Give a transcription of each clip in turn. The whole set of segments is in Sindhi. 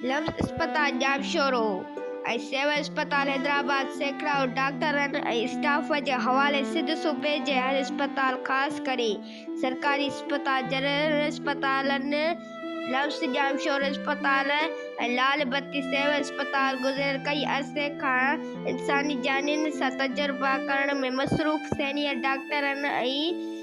لفظ اسپتال ڄامشورو ۽ سول اسپتال حيدرآباد سيڪڙائو ڊاڪٽرن ۽ اسٽاف جي حوالي سنڌ صوبي جي هر اسپتال خاص ڪري سرڪاري اسپتال جنرل اسپتالن لفظ ڄامشورو اسپتال ۽ لال بتي سول اسپتال گذريل ڪئي عرصي کان انساني جانين سان تجربا ڪرڻ ۾ مصروف سينيئر ڊاڪٽرن ۽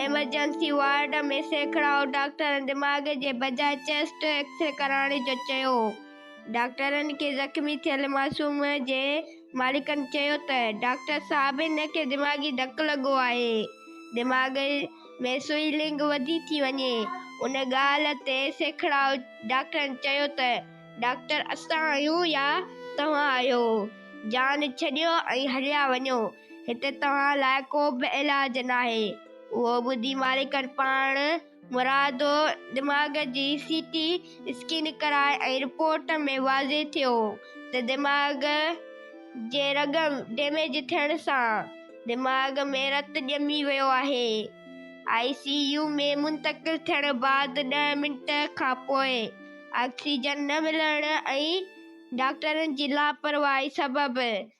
ايمرجنسي وارڊ ۾ سيکڙائو ڊاڪٽرن دماغ جي بجاء چيسٽ ايڪسري ڪرائڻ جو چيو. ڊاڪٽرن کي زخمي ٿيل معصوم جي مالڪن چيو ته ڊاڪٽر صاحب هن کي دماغي ڌڪ لڳو آهي، دماغ ۾ سوئلنگ وڌي ٿي وڃي، ان ڳالهه تي سيکڙائو ڊاڪٽرن چيو ته ڊاڪٽر اسان آهيون يا توهان آهيو، جان ڇڏيو ۽ هليا وڃو. هتي توهان لاء ڪو به علاج ناهي. اهو ٻڌي مالڪن پاڻ مرادو دماغ جي سي ٽي اسڪين ڪرائي ۽ رپورٽ ۾ واضح ٿيو ته دماغ جي رڳ ڊيميج ٿيڻ سان دماغ ۾ رت ڄمي ويو آهي. آء سي يو ۾ منتقل ٿيڻ بعد ڏهه منٽ کانپوء آڪسيجن نه ملڻ ۽ ڊاڪٽرن جي لاپرواهي سبب